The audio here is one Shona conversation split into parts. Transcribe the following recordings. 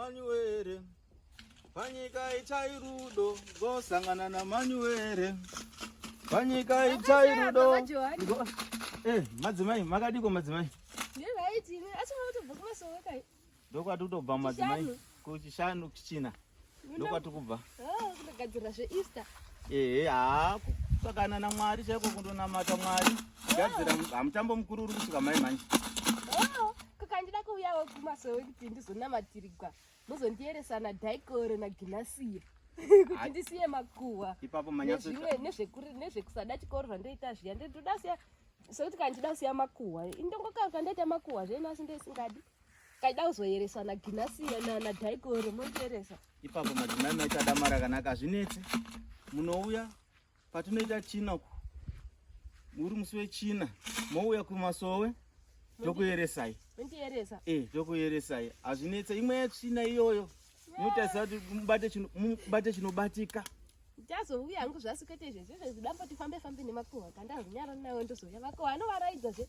Manyuwere panyika itai rudo ngosangana na Manyuwere panyika itai rudo eh madzimai makadiko madzimai ndezvaitini asi mwakutobva kumasowe kai ndokwati kutobva madzimai kuchishanu kuchina ndokwati kubva ah, kugadzira zveeaster ehe haa kusakana namwari chaiko kundonamata mwari gadzira ah. hamutambo mukuru uri kusvika mai manje kukandida kuuyawo kumasowe kuti ndizonamatirigwa muzondiyeresa nadhaikoro naginasiya kuti ndisiye makuhwa nezvekusada chikoro zvandoita zviya ndoda siya sokuti kandida kusiya makuhwa indongokaruka ndoita makuhwa zvenu asi ndoisingadi kaida kuzoyeresa naginasiya nadhaikoro mondiyeresa ipapo madzimai maita damara kanaka hazvinetse munouya patinoita china ku uri musi wechina mouya kumasowe tokuyeresai eh, tokuyeresai hazvinetsa imwe yetsvina iyoyo inotaisa kuti mubate chinobatika ndazouya hangu zvasikaita izvezvezvezvidambo tifambe fambe nemakuhwa kandahunyara nawo ndozouya vako vanovaraidza zve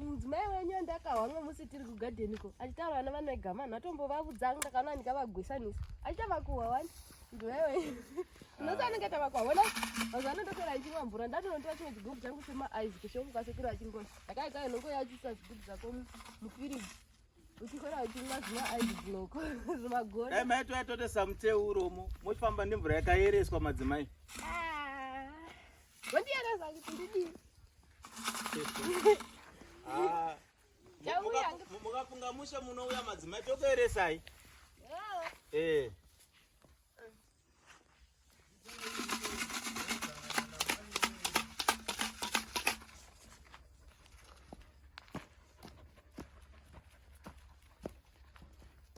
mudzimai wenyu andakahwa mwe musi tiri kugadheni ko achitaura vana vanoega manhu atombovavudzanga ndakaona ndikavagwesanisa achita vakuhwa wani ndiwewe unosa anenge tavakuhwa wona mazuva ano ndotora ndichimwa mvura ndatonotora chimwe chigubhu changu chema aizi kushomu kwasekuru achingoi ndakaita inongo yachisa zvigubhu zvako mufiriji uchikora uchimwa zvima aizi dzinoko zvimagoni dai maito yatotesa muteuromo mochifamba nemvura yakayereswa madzimai ah. Wondiyereza kuti ndidii? Ah. Mukafunga mushe munouya madzimai tokueresai. Eh.